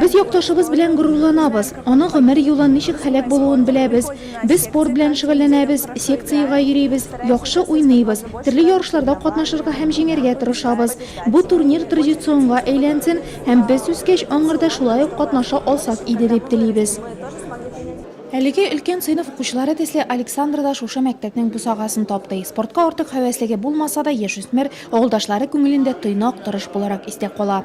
Без якташыбыз белән горурланабыз. Аның гомер юлы ничек һәлак булуын беләбез. Без спорт белән шөгыльләнәбез, секциягә йөрибез, яхшы уйныйбыз, төрле ярышларда катнашырга һәм җиңәргә тырышабыз. Бу турнир традиционга әйләнсен һәм без үскәч аңарда шулай ук катнаша алсак иде дип телибез. Әлеге өлкән сыйныф укучылары төсле Александра да шушы мәктәпнең бусагасын тапты. Спортка артык һәвәслеге булмаса да, яшүсмер Авылдашлары күңелендә тыйнак, тырыш буларак истә кала.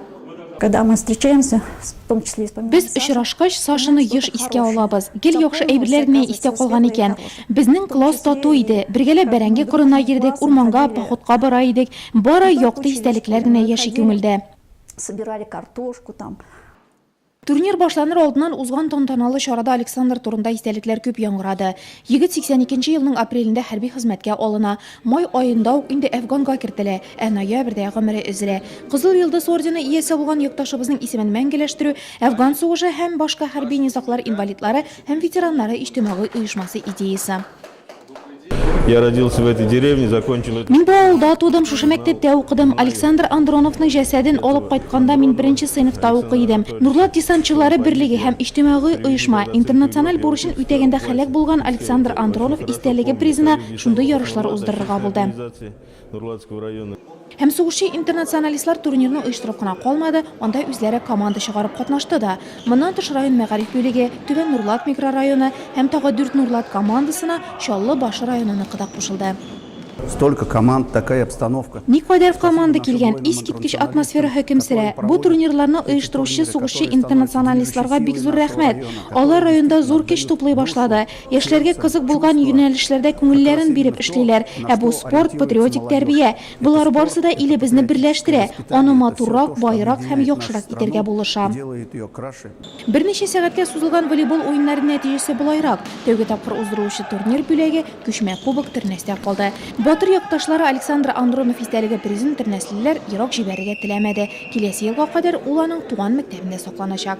Без очрашкач, Сашаны еш искә алабыз. Гел яхшы әйберләр генә истә калган икән. Безнең класс тату иде. Бергәләп бәрәңге кырына йөрдек, урманга, походка бара идек. Бары якты истәлекләр генә яши күңелдә. Турнир башланыр алдыннан узган тантаналы чарада Александр турында истәлекләр күп яңгырады. Егет 82 нче елның апрелендә хәрби хезмәткә алына. Май аенда ук инде Әфганга кертелә, ә ноябрьдә гомере өзелә. Кызыл Йолдыз ордены иясе булган якташыбызның исемен мәңгеләштерү Әфган сугышы һәм башка хәрби низаглар инвалидлары һәм ветераннары иҗтимагый оешмасы идеясе. Я родился в этой деревне, закончил это. Мин бу авылда тудым, шушы мәктәптә укыдым. Александр Андроновның җәсәден алып кайтканда мин беренче сыйныфта укый идем. Нурлат десантчылары берлеге һәм иҗтимагый оешма интернациональ бурычын үтәгәндә һәлак булган Александр Андронов истәлеге призына шундый ярышлар уздырырга булды. Нурлатского района. Һәм сугышчы интернационалистлар турнирны оештырып кына калмады, анда үзләре команда чыгарып катнашты да. Моннан тыш район мәгариф бүлеге, Түбән Нурлат микрорайоны һәм тагы дүрт Нурлат командасына Чаллы Башы районыныкы да кушылды. Столько команд, такая обстановка. Никадәр команда килгән, искиткеч атмосфера хөкем сөрә. Бу турнирларны оештыручы сугышчы интернационалистларга бик зур рәхмәт. Алар районда зур көч туплый башлады. Яшьләргә кызык булган юнәлешләрдә күңелләрен биреп эшлиләр. Ә бу спорт, патриотик тәрбия. Болар барсы да илебезне берләштерә, аны матуррак, баерак һәм яхшырак итәргә булыша. Берничә сәгатькә сузылган волейбол уеннары нәтиҗәсе болайрак, тәүге тапкыр уздырылучы турнир бүләге, күчмә кубок, Тернәстә калды. Батыр якташлары Александр Андронов истәлеге призын тернәслеләр ерак җибәрергә теләмәде. Киләсе елга кадәр ул аның туган мәктәбендә сакланачак.